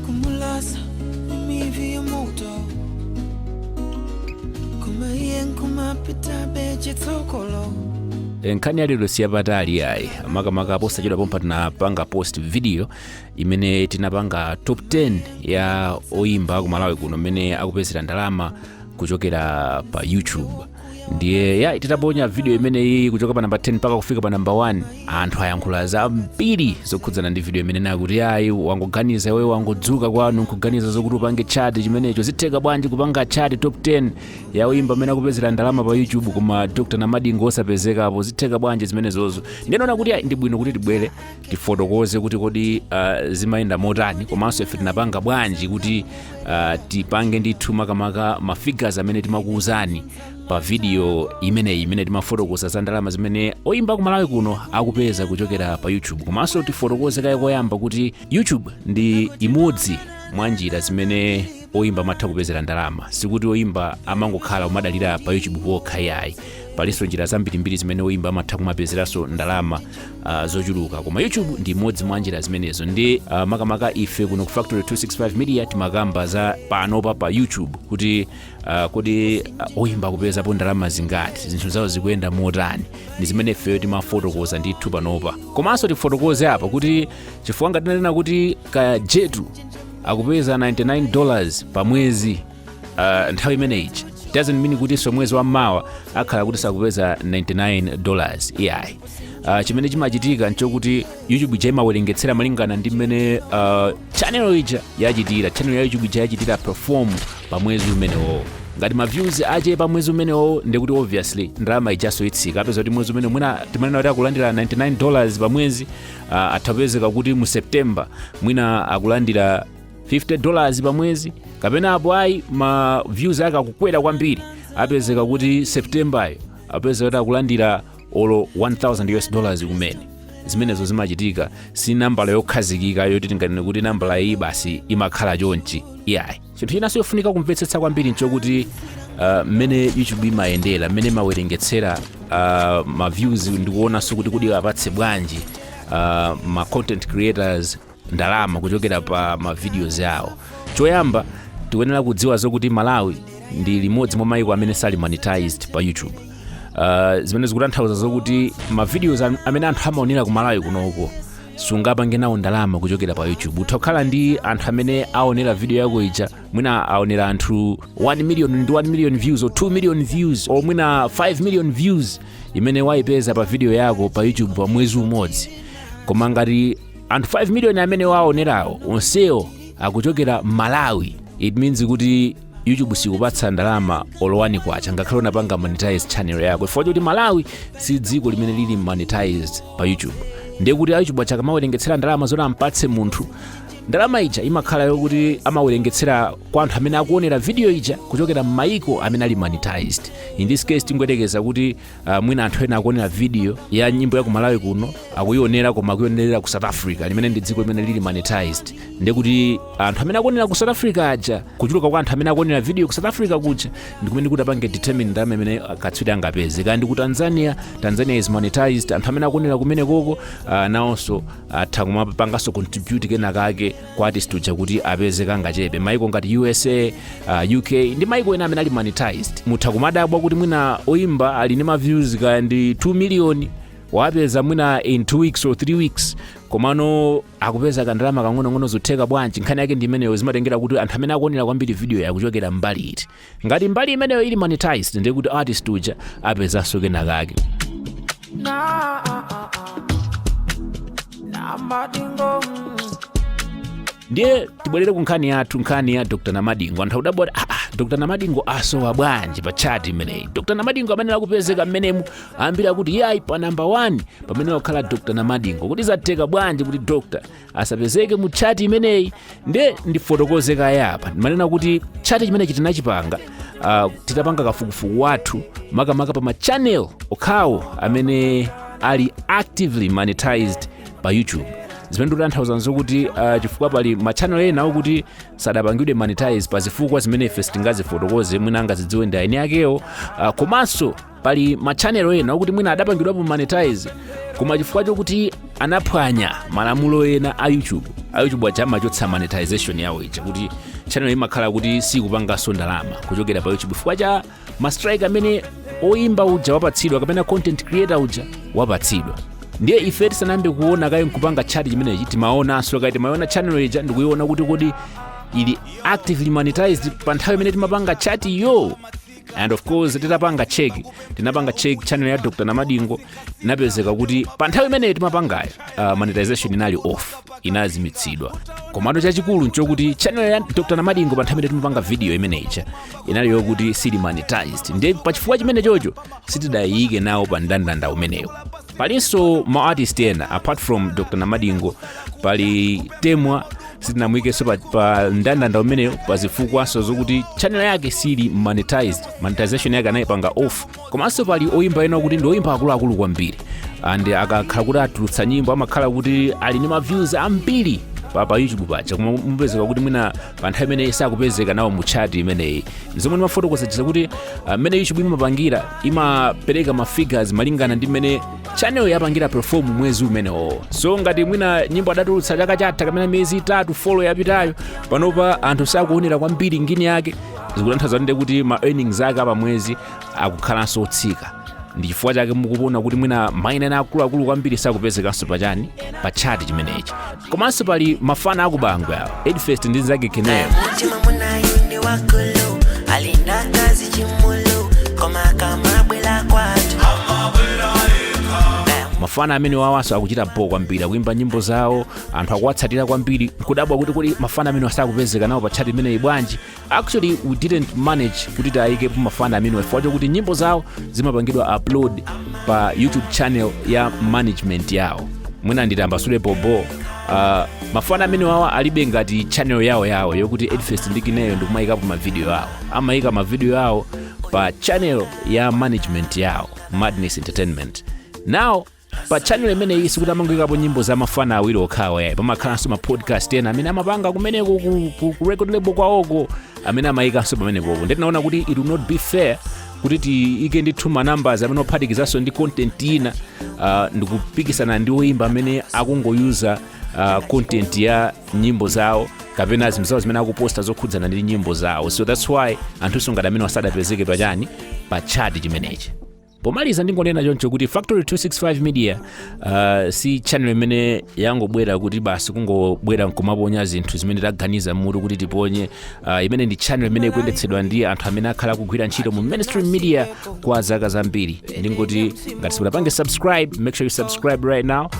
kumulasa imivi ya moto kumaiye nkumapita bechitsokolo nkhani yalero si yapatali yayi makamaka posachedwa pompa tinapanga post video imene tinapanga top 10 ya oyimba ku malawi kuno mmene akupezera ndalama kuchokera pa youtube ndiye ayi titaponya video imeneyi kuchoka pa namba 10 mpaka kufika pa namba 1 anthu ayankhula zambiri zokhudzana ndi video imene ija kuti ayi wangoganiza iweyo wangodzuka kwanu nkuganiza zokuti upange chati chimenecho zitheka bwanji kupanga chati top 10 ya oyimba amene akupezera ndalama pa youtube koma dr namadingo osapezekapo zitheka bwanji zimenezozo ndinaona kuti ayi ndi bwino kuti tibwere tifotokoze kuti kodi uh, zimayenda motani komanso ife tinapanga bwanji kuti uh, tipange ndithu makamaka ma figures amene timakuwuzani pa video imeneyi imene timafotokoza za ndalama zimene oyimba ku malawi kuno akupeza kuchokera pa youtube komanso tifotokoze kaye koyamba kuti youtube ndi imodzi mwa njira zimene oyimba amatha kupezera ndalama sikuti oyimba amangokhala kumadalira pa youtube pokha yayi palinso njira zambirimbiri zimene oyimba amatha kumapezeranso ndalama uh, zochuluka koma youtube ndi imodzi mwa njira zimenezo nde uh, makamaka ife kuno ku factory 265 media timakamba za panopa pa youtube kuti uh, kodi uh, oyimba akupezapo ndalama zingati zinthu zawo zikuyenda motani ndi zimene ifeyo timafotokoza ndithu panopa komanso tifotokoze apa kuti chifukwa ngati tinanena kuti ka jetu akupeza 99 dollars pa mwezi uh, nthawi imeneyi doesn't mean kutinso mwezi wammawa akhala kuti akupeza 99 dollars iyayi uh, chimene chimachitika nchokuti youtube ija imawerengetsera malingana ndi mmene uh, channel ija yachitira channel ya youtube ija yachitira perform pa mwezi umenewo ngati ma views achepa pa mwezi umenewo ndikuti obviously ndalama ijaso itsika apeza kuti mwezi umene mwina timanena kuti akulandira 99 dollars pa mwezi ah, atha kupezeka kuti mu september mwina akulandira 50 dollars pa mwezi kapena apo ayi ma views ake akukwera kwambiri apezeka kuti septembayo apezeka kuti akulandira olo 1000 us dollars kumene zimenezo zimachitika si nambala yokhazikika yoti tinganene kuti nambala iyi basi imakhala chonchi iyayi chinthu chinanso chofunika kumvetsetsa kwambiri nchokuti uh, mmene youtube imayendera mmene imawerengetsera uh, ma views ndikuonanso kuti kodi apatse bwanji uh, ma content creators ndalama kuchokera pa ma videos awo choyamba tikuyenera kudziwa zokuti malawi ndi limodzi mwa maiko amene sali monetized pa youtube uh, zimene zikutanthauza zokuti mavideos am- amene anthu amaonera ku malawi kunoko sungapange nawo ndalama kuchokera pa youtube utha kukhala ndi anthu amene aonera video yako ija mwina aonera anthu 1 million 1 million views or 2 million views or mwina 5 million views imene waipeza pa video yako pa youtube pa mwezi umodzi koma ngati anthu 5 million amene waonerawo onsewo akuchokera malawi it means kuti youtube sikupatsa ndalama olo wani kwacha ngakhale unapanga monetize channel yako chifukwa choti malawi si dziko limene lili monetized pa youtube ndiye kuti a youtube aja akamawerengetsera ndalama zoti ampatse munthu ndalama ija imakhala yokuti amawerengetsera kwa anthu amene akuonera video ija kuchokera m'mayiko amene ali monetized in this case tingoyerekeza kuti Uh, mwina anthu ena akuonera video ya nyimbo ya ku malawi kuno akuionera koma akuionerera ku south africa limene ndi dziko limene lili monetized ndekuti anthu amene akuonera ku south africa aja kuchuluka kwa anthu amene akuonera video ku south africa kuja ndikumene kutapange determine ndalama imene katswiri angapeze kaya ndi ku tanzania tanzania is monetized anthu amene akuonera kumenekoko uh, nawonso atha kumapanganso contribute kenakake kwa artist uja kuti apeze kangachepe maiko ngati usa uh, uk ndi maiko ena amene ali monetized mutha kumadabwa kuti mwina oimba ali ndi maviews kaya ndi 2 million wapeza mwina in 2 weeks or 3 weeks komano akupeza kandalama kang'onong'ono zotheka bwanji nkhani yake ndi imeneyo zimatengera kuti anthu amene akuonera kwambiri video-yo akuchokera mbali iti Ngati mbali imeneyo ili monetized ndiye kuti artist uja apezanso kenakake. Nah, uh, uh, uh. Namadingo. mm. ndiye tibwerere ku nkhani yathu nkhani ya dr namadingo anthu akudabwa kuti aa dr namadingo asowa bwanji pa tchati imeneyi dr namadingo amenera kupezeka mmenemu ambiri akuti iyayi pa namba 1 pamenera kukhala dr namadingo kodi zatheka bwanji kuti dr asapezeke mu tchati imeneyi nde ndifotokoze kaye apa mmanena kuti tchati chimenechi tinachipanga uh, titapanga kafukufuku wathu makamaka pa machanel okhawo amene ali actively monetized pa youtube zimene tikutanthauza nzokuti uh, chifukwa pali machanel ena okuti sadapangidwe monetize pa zifukwa zimene ife sitingazifotokoze mwina angazidziwe ndi eni akewo uh, komanso pali machanel ena okuti mwina adapangidwapo monetize koma chifukwa chokuti anaphwanya malamulo ena a youtube a youtube aja amachotsa monetization yawo ija kuti channel imakhala kuti sikupanganso ndalama kuchokera pa youtube chifukwa cha mastrike amene oyimba uja wapatsidwa kapena content creator uja wapatsidwa ndiye ife tisanayambe kuona kaye nkupanga tchati chimenechi timaonanso kaye timaona channel ija ndikuiona kuti kodi ili actively monetized pa nthawi imene timapanga tchati yo and of course tinapanga check tinapanga check channel ya dr namadingo inapezeka kuti pa nthawi imeneyo timapangayo uh, monetization inali off inazimitsidwa komano chachikulu nchokuti channel ya dr namadingo pa nthawi imene timapanga video imeneyicha inali yokuti siyili monetized ndiye pa chifukwa chimene chocho sitidayiyike nawo pa ndandanda umenewo palinso ma artist ena apart from dr namadingo pali temwa sitinamuyikeso pa, pa ndandanda umenewo pa zifukwaso zokuti channel yake siyili monetized monetization yake anayipanga off komanso pali oyimba ena okuti ndi oyimba akuluakulu kwambiri and akakhala kuti atulutsa nyimbo amakhala kuti ali ndi ma views ambiri pa, pa youtube paja koma mupezeka kuti mwina pa nthawi imene sakupezeka nawo mu chart imeneyi zomwe ndimafotokoza chija kuti ah, mmene youtube imapangira imapereka ma figures malingana ndi mmene channel yapangira perform mwezi umenewo so ngati mwina nyimbo adatulutsa chaka chatha kapena miyezi itatu folo yapitayo panopa anthu sakuonera kwambiri ngini yake zikutanthauza ndi kuti ma earnings ake a pa mwezi akukhalanso otsika ndi chifukwa chake mukuona kuti mwina maina ena akuluakulu kwambiri sakupezekanso pachani pa chati chimenechi komanso pali mafana akubangwe awo fadah ndi nzake kineo mutima munayo ndi wakulu alina kazi chimulu koma akamabwela kwatu mafana amene wawanso akuchita bho kwambiri akuimba nyimbo zawo anthu akuwatsatira kwambiri nkudabwa kuti kodi mafana amenewa sakupezeka nawo pa tchati imeneyi bwanji actually we didn't manage kuti tayikepo mafana amenewa chifukwa chokuti nyimbo zawo zimapangidwa upload pa youtube channel ya management yawo mwina nditambasule bho bho uh, mafana amenewawa alibe ngati channel yawo yawo yokuti fadah ndi kineo ndikumayikapo mavidiyo awo amayika mavidiyo awo pa channel ya management yawo madness entertainment now pa channel imeneyi sikuti amangoikapo nyimbo za mafana awiri okhawa yayi pamakhalanso ma podcast ena amene amapanga kumeneko ku, ku, ku record label kwawoko amene amayikanso pamenepopo ndiye tinaona kuti it will not be fair kuti tiike ndithu ma numbers amenewo ophatikizanso ndi content ina uh, ndikupikisana ndi oyimba amene akungoyuza uh, content ya nyimbo zawo kapena zinthu zawo zimene akuposta zokhudzana ndi nyimbo zawo so that's why anthunso ngati amenewa sadapezeke pachani pa chati chimenechi pomaliza ndingonena choncho kuti factory 265 media uh, si channel imene yangobwera kuti basi kungobwera nkumaponya zinthu zimene taganiza mmutu kuti tiponye uh, imeneyi ndi channel imene ikuyendetsedwa ndi anthu amene akhala akugwira ntchito mu mainstream media kwa zaka zambiri ndingoti ngati simunapange subscribe make sure you subscribe right now